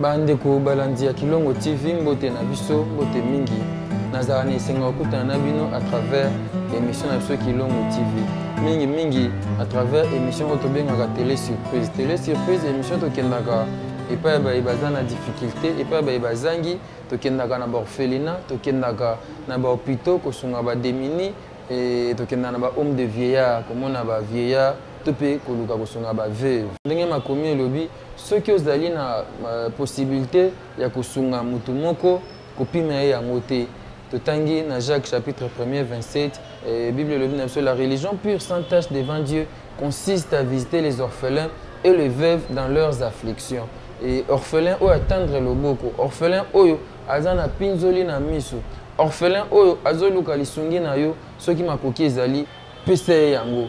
bandeko balandi ya kilongo tv mbote na biso mbote mingi nazala na esengo ya kokutana na bino à travers émission na biso kilongo tv mingi mingi à travers émission oyo tobengaka télé surprise télé surprise émission tokendaka epai ya baye baza na difficulté epai ya baye bazangi tokendaka na baorphelina tokendaka na bahopitaux kosunga bademini e, tokendaka na bahome de vieillard komona bavieillard to mpe koluka kosunga baveuve ndenge makomi elobi Soki ozali na posibilite ya kosunga moto moko, kopima ye yango te. Totangi na Jacques chapitre 1er 27, eh, Bible elobi na biso la religion pure sans tache devant Dieu consiste à visiter les orphelins et les veuves dans leurs afflictions. Et orphelin oyo atendre loboko, orphelin oyo aza na pinzoli na miso, orphelin oyo azoluka lisungi na yo soki makoki ezali, pesa ye yango.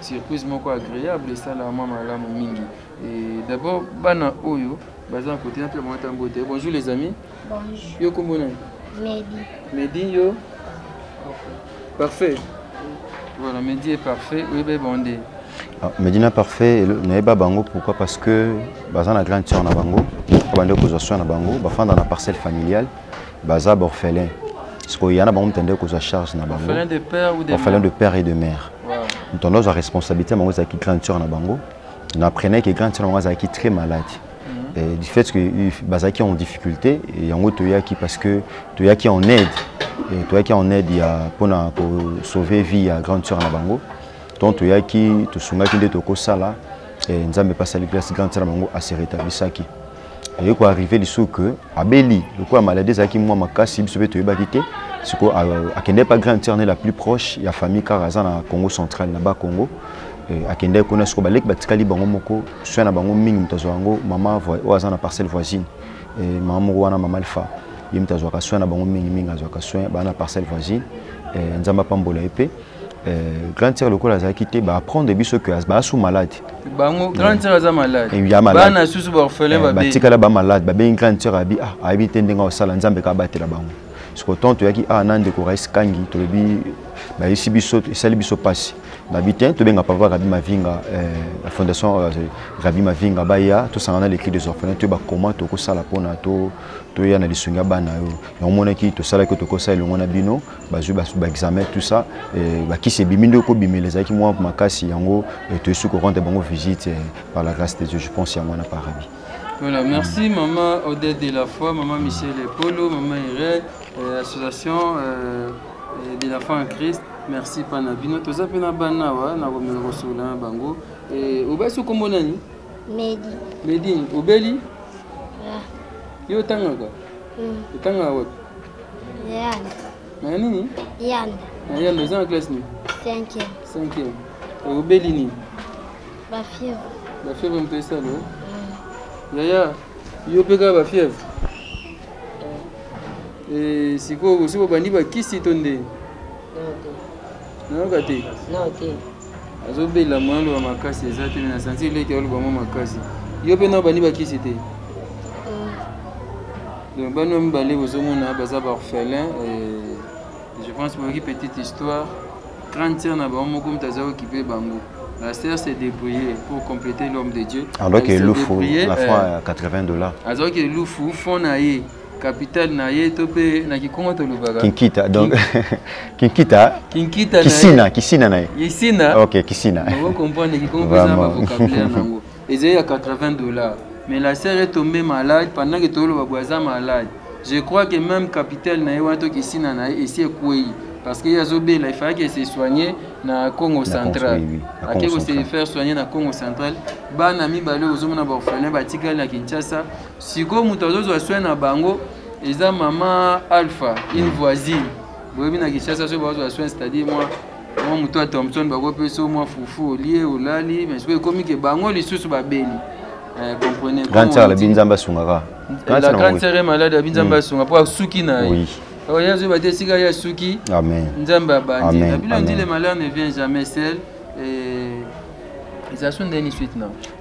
surprise moko agréable esalama malamu mingi et d'abord bana oyo baza na kote na mpe bango ata mbote bonjour les amis bonjour yo kombo nani medi medi yo parfait voilà medi est parfait oyebi bonde ah, medi na parfait nayeba bango pourquoi parce que baza na grande sœur na bango abandi kozwa soin na bango bafanda na parcelle familiale baza baorphelin sikoyo ya na bango motende kozwa charge na bango orphelin de père et de mère motende ozwa responsabilité na bango ezalaki grande sœur na bango na apprenai ke grande sœur na bango azalaki très malade mhm. et du fait que bazalaki en difficulté yango toyaki parce que toyaki en aide toyaki en aide ya mpona kosauve vie ya grande sœur na bango donc toyaki tosungaki nde tokosala nzambe mpasali place grande sœur na bango aseretablisaki aye ko arrive lisusu ke abeli lokola maladie ezalaki mwa makasi biso mpe toyebaki te sikoyo akendaki mpa grand sœur ne la plus proche ya famille kaka aza na congo central na ba congo eh, akendaki kuna sikoyo baleki batikali bango moko soin na bango mingi moto azwa yango mama oyo aza na parcelle voisine eh, mama moko wana mama alpha ye moto azwaka soin na bango mingimingi azwaka soin baa na parcelle voisine eh, nzambe apambola ye mpe Euh, grand sœur lokola azalaki te baapprendre biso que baasu malade bango grand sœur aza maladebana susu baorphelin eh, batikala bamalade babengi grand sœur abi ah ayebi te ndenge akosala nzambe kabatela bango siko ntango toyaki awa ah, na ndeko rais kangi tolobi bayesi biso esali biso mpasi babi te tobenga papa rabi mavinga eh, la fondation euh, rabi mavinga baya tosangana lecri des orphelins toyeba comment tokosala mpona toya na lisungi ya bana yo yango omonaki tosalaki tokosa elongo na bino bazwi baexamen tout ça eh, bakisi ebimi nde okobimela ezalaki mwa makasi yango eh, toyesi korendre bango visite eh, par la grâce de dieu je pense yango wana parabi Voilà, merci mm. maman Odette de la foi, maman Michel Polo, maman Irène, euh, association euh, de la foi en Christ. Merci pana bino toza pe na bana wa na komela kosolola na bango. Eh, obasi kombo nani? Medi. Medi, obeli? Yeah. Yo otangaka? Mm. Otangaka wapi? Yanda. Na nini? Yanda. Na yanda oza na classe nini? 5e. 5e. Obeli nini? Ba fièvre. Ba fièvre moto esala. Mm. Yaya, yo mpe kaka ba fièvre? Eh, sikoyo osi bobandi bakisi to nde? nayoka te nao te azobela moya loba makasi eza te me na santi eleki aloba mwa makasi yo mpe nao bandi bakisi te euh. donc bano mibale bozomona baza baorphelin je pense boyoki petite histoire grande sœur na bango moko moto aza okipe bango la sœur s'est débrouillée pour compléter l'homme de dieu alors que lufu na franc ya 80 dollars azalaki lufu fond na ye capital na ye to mpe na kikongo tolobaka kinkita donc kinkita kinkita kisina kisina na ye kisina ok kisina okokomprendre kikongo mpe eza na bavocabulaire yango ezali ya 80 dollars mais la sœur est tombée malade pendant que toloba boye aza malade je crois que même capital na ye wana to kisina na ye esi ekwei parce que ye azobela il fallait que se soigner na congo central ake ko se faire soigner na congo central bana mibale ozomona baorphelin batikali na kinshasa sikoyo moto azozwa soin na bango eza mama alpha une voisine boyebi na kinshasa soki bazozwa soin c'est-à-dire mwa mwa moto ya thompson bakopesa mwa fufu olie olali mais sikoyo ekomi ke bango lisusu babeli eh, comprenez grande sœur labi nzambe asungaka la grande sœur est malade abi nzambe mm. asunga mpo asuki na ye alors ye azoyeba te esika ye asuki nzambe abandi na bino ndile malheur ne vient jamais seul eza so ndeni suite na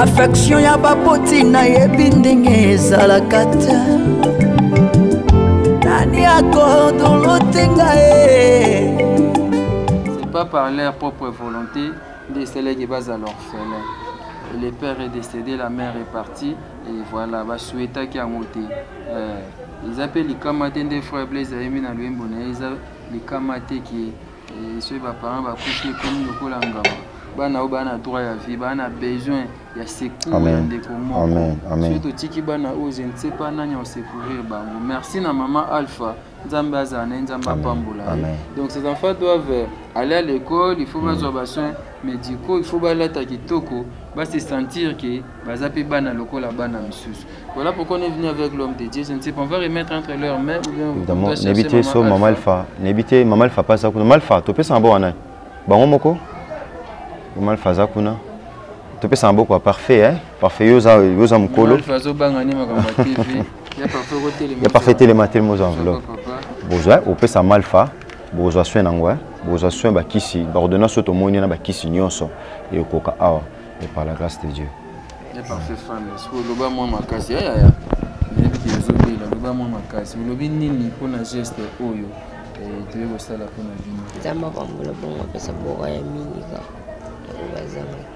affection ya baboti nayebi ndenge ezalaka te nani akordolote ngai c'est pas par leur propre volonté nde esalaki bazala orphelin le père est décédé la mère est partie et voilà basuetaki yango te eh, eza mpe likama te nde frère blaise ayemi na loyembo na ye eza likama te ke Eh, soki baparent bakufi ekomi lokola ngamba bana oyo baa na droit ya vie baa na besoin ya secour ya ndeko moko soki totiki bana oyo je ne sais pas nani akosecourrir bango merci na mama alpha nzambe azala na ye nzambe apambola ye donc ces enfants doivent euh, aller à l'école il faut mm. bazwa basoin médicaux il faut balata kitoko base sentir ke baza pe bana lokola bana misusu voilà pourquoi on est venu avec l'homme de Dieu je ne sais pas on va remettre entre leurs mains ou bien évidemment nebite so maman alpha nebite maman alpha pas ça kuna maman alpha topesa maboko wana bango moko maman alpha aza kuna topesa maboko parfait hein parfait yo oza yo oza mokolo alpha azobanga nde makambo ya tv ya parfait telema telema oza enveloppe bozwa opesa maman alpha bozwa soin nango hein bozwa soin bakisi baordonnance oyo tomoni wana bakisi nyonso ekoka awa Et par la grâce de Dieu. Et par ses femmes, est-ce que vous avez moins ma casse Ya ya ya. Neti ozobela, loba moins ma casse. Vous avez nini pour na geste oyo eh, toye kosala mpo na bino nzambe apambola bongo apesa boka ya mingi kaka yango bazangaki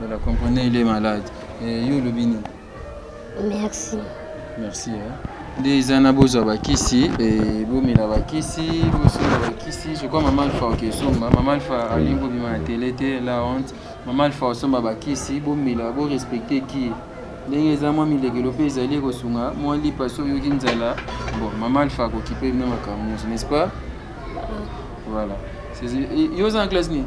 voilà comprenez il est malade eh, yo olobi nini merci merci hein? nde eza na bozwa bakisi e, bomela bakisi bosomba bakisi je crois mama alpha oke osomba mama alpha alingi bobima na tele te la honte mama alpha osomba bakisi bomela borespecte ki ndenge eza mwa milekelo mpe ezali ekosunga mwa lipa soki oyoki nzala bon mama alpha akokipe bino makambo nyonso n'est ce pas voilà yo oza na classe nini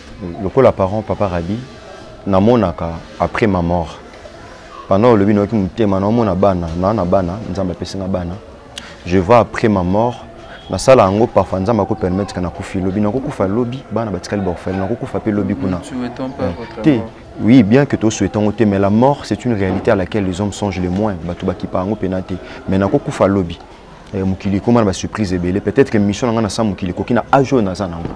lokola parent papa rabi namonaka après ma mort pendant olobi nayoki motema naomona bana naa na bana nzambe apesi nga bana je vois après ma mort nasala yango parfois nzambe akopermettre ka nakufi lobi nakokufa lobi bana batikali baorfele nakokufa mpe lobi kuna hmm. te oui bien que tosouhaite yango te mais la mort c'est une réalité à laquelle les hommes songent le moins bato bakipa yango mpena te mais nakokufa lobi eh, mokili ekoma na basurprise ebele peut-être que mission na ngai na sa mokili ekoki na age oyo naza nango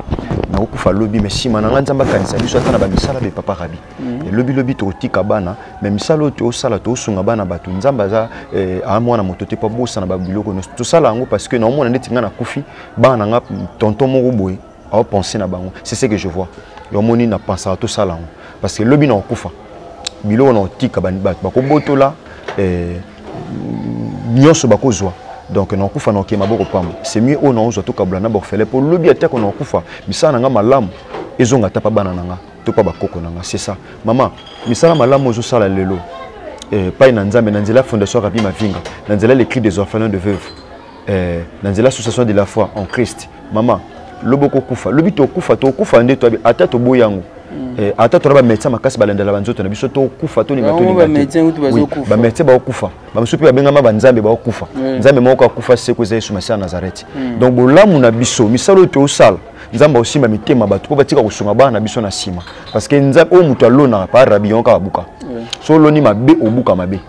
nakokufa lobi mais nsima na ngai nzambe akanisa biso ata na bamisala be papa rabi mhm. lobilobi tokotika bana mais misala oyo tosala tosunga bana bato nzambe aza eh, aa mwana moto te mpo abosana babiloko nyonso tosala yango parce que naomona ndeti ngai nakufi bana na ngai tonton moko boye ao penser na bango c'est ce que je vois yo moni na pensaka tosala yango parce que lobi na kokufa biloko na kotika bato bakobotola eh, nyonso bakozwa donc na kokufa na kokema boko pamba c'est mieux oyo naozwa tokabula na borfele mpo lobi atako na kokufa misala na ngai malamu ezonga ata mpa bana na ngai to mpa bakoko na ngai c'est ça mama misala malamu ozosala lelo epai eh, na nzambe na nzela ya fondation rabi mavinga na nzela ya l'écrit des orphelins de veuve eh, na nzela association de la foi en christ mama lobi okokufa lobi tokufa tokufa nde ata toboyi yango mm. eh, ata tona bamédecin makasi balandela banzoto na biso tokufa tolinga tolingabamédecin baokufa bamosusu mpe babengama banzambe baokufa nzambe moko akufa seko eza yesu masiya nazareti mm. donc bolamu na biso misala oyo tosala nzambe akosimba mitema bato mpo batika kosunga bana na biso na nsima parce que oyo moto alonaka pa rabi yango kaka buka so oloni mabe obuka mabe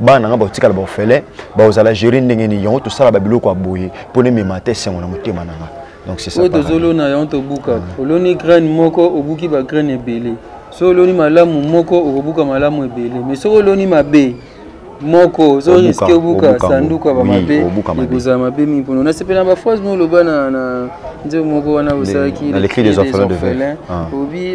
bana na ngai bakotikala baofele bakozala gere ndenge nini yango tosala babiloko ya boye mpo nemema te esengo na motema na ngai donc c'est ça oyo tozolona yango tobuka ah. oloni graine moko obuki ba graine ebele so oloni malamu moko okobuka malamu ebele mais soki oloni mabe moko ozo riske obuka sanduku ya bamabe ekozala mabe mingi mpona nasepela na baphrase mo oloba na nzembo moko wana osalaki obi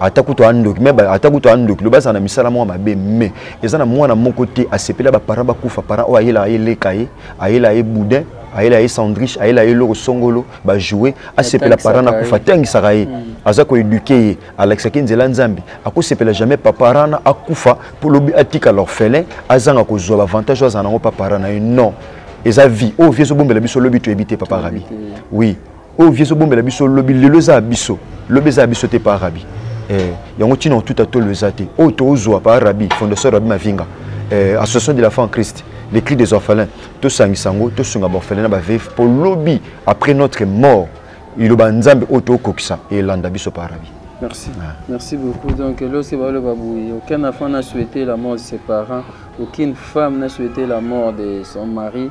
ata kutu andoki me ata kutu andoki loba azala na misala moko mabe me eza na mwana moko te asepela baparent bakufa parent oyo ayelaka ye leka ye ayelaka ye boudin ayela ye sandrich ayela ye eloko songolo bajoue asepela parent na kufa atangisaka ye hmm. aza koeduke ye alakisaki nzela nzambe akosepela jamais paparent na akufa mpo lobi atika l'orphelin azanga kozwa bavantage oyo azala nango paparent na ye non eza vie oyo vie ezobombela biso lobi toyebi te papa rabi oui oyo vie ezobombela biso lobi lelo eza ya biso lobi eza ya biso te pa rabi eh, yango ntina otuta tolo eza te oyo tozwa pa rabi fondation rabi mavinga eh, association de la fin en christ les cris des orphelins tosangisa yango tosunga baorphelin na baveve mpo lobi après notre mort iloba nzambe oyo tokokisa elanda biso pa rabi Merci. Ah. Merci beaucoup. Donc, lorsque Balo Babouye, aucun enfant n'a souhaité la mort de ses parents, aucune femme n'a souhaité la mort de son mari.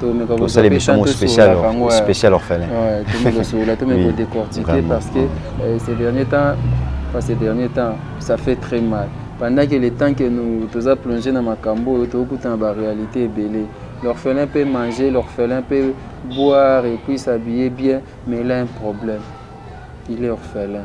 tomeka kosala émission moko spécial spécial orphelin ouais tomeka kosola tomeka ko décortiquer parce que euh, ces derniers temps pas ces derniers temps ça fait très mal pendant que le temps que nous toza plongé na makambo oyo tokutana ba réalité ebele l'orphelin peut manger l'orphelin peut boire et puis s'habiller bien mais il a un problème il est orphelin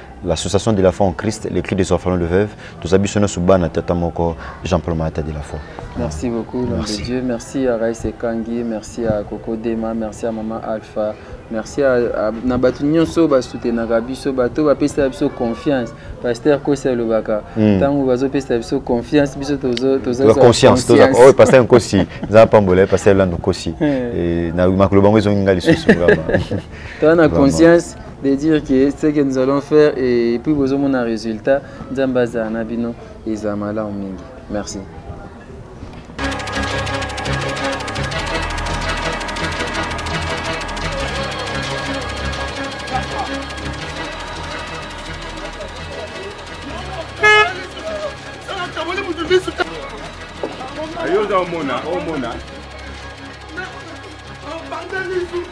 l'association de la foi en Christ, les cris des orphelins de veuves, tous abus sur Subana Tata Moko, Jean-Paul Marata de la foi. Merci beaucoup, l'homme de Dieu. Merci à Raïs Kangi, merci à Coco Dema, merci à Maman Alpha, merci à, à na bato nyonso basutenaka biso bato bapesaka biso confiance paster kosi alobaka ntango hmm. bazopesa biso confiance biso tozaaoyo paster nkosi eza pambola paster lando nkosi eh. eh, na makolo bango ezongi ngai lisusu toa na conscience de dire que ce que nous allons faire et puis bozomona résultat nzambe azala na bino ezala malamu mingi merci ayoza omona omona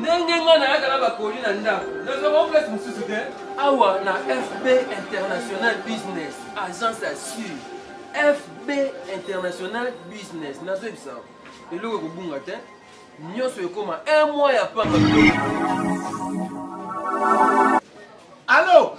ndenge nga nayaka na bakoli na ndako nazwaka place mosusu te awa na fb international business agence ya sur fb international business nazoyebisa eloko ekobunga te nyonso ekoma un mois ya pamba alo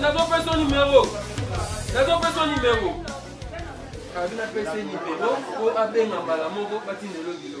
nazopesa numero nazopesa numero abi napesa ye libelo mpo abenga mbala moko batindelo bilo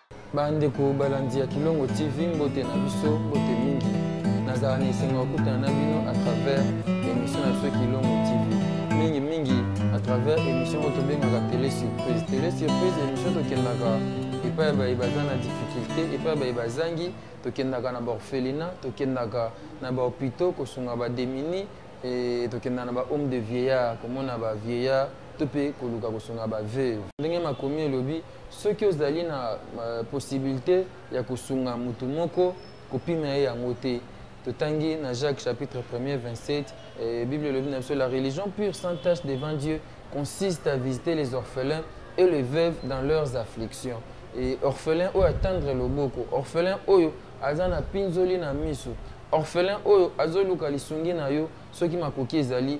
bandeko balandi ya kilongo tv mbote na biso mbote mingi nazala na esengo ya kokutana na bino à travers émission na biso kilongo tv mingi mingi à travers émission oyo tobengaka télé surprise télé surprise émission tokendaka epai ya baye baza na difficulté epai ya baye bazangi tokendaka na baorphelina tokendaka na bahopitaux kosunga bademini e, tokendaka na bahome de vieillard komona bavieillard to mpe koluka kosunga baveuve ndenge makomi elobi soki ozali na uh, possibilité ya kosunga moto moko kopima ye yango te totangi na jacques chapitre 1er 27 eh, bible elobi na biso la religion pure sans tache devant dieu consiste à visiter les orphelins et les veuves dans leurs afflictions et orphelin oyo atendre loboko orphelin oyo aza na pinzoli na miso orphelin oyo azoluka lisungi na yo soki makoki ezali